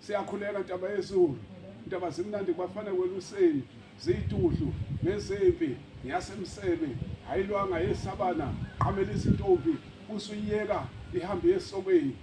siyakhuleka ntaba yezulu ntaba zimnandi kubafana kweluseni ziyituhlu nezimpi yasemsebe ayilwanga yesabana qhamela izintombi usuyiyeka ihambe yesokweni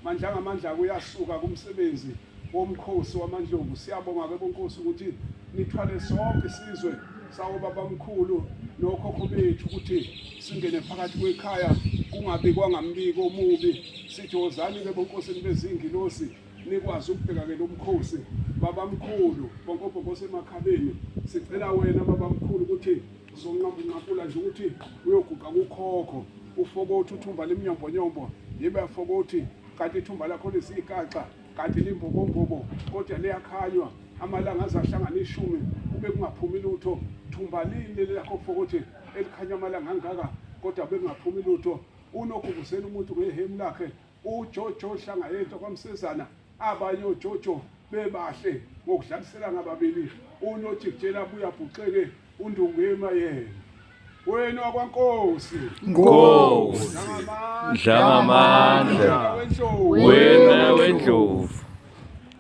mandla ngamandla kuyasuka kumsebenzi womkhosi wamandlovu siyabonga ke bonkosi ukuthi nithwale sonke isizwe Sawo babamkhulu nokhokho bethu ukuthi singene phakathi kwekhaya kungabikwa ngambiko omubi sithi wozani ke bonkosini bezingilosi nikwazi ukubheka ke lomkhosi babamkhulu bonkobhokose emakhaleni sicela wena babamkhulu ukuthi zonqambunqakula nje ukuthi uyoguqa kukhokho ufokothi uthumba lemnyombonyombo yibe afokothi kanti ithumba lakho lisiyikaxa kanti limbobombobo kodwa liyakhanywa amalanga aze ahlangane ishumi kube kungaphumi lutho thumba lini leli lakho fokothi elikhanya amalanga angaka kodwa bekungaphumi lutho unogubuzela umuntu ngehemu lakhe ujojo hlanga yento kwamsezana abanye ojojo bebahle ngokudlaliselana ababili unojikjela buyabhuxeke undungema yena wenu wakwankosi Nkosi Dlangamandla wena wendlovu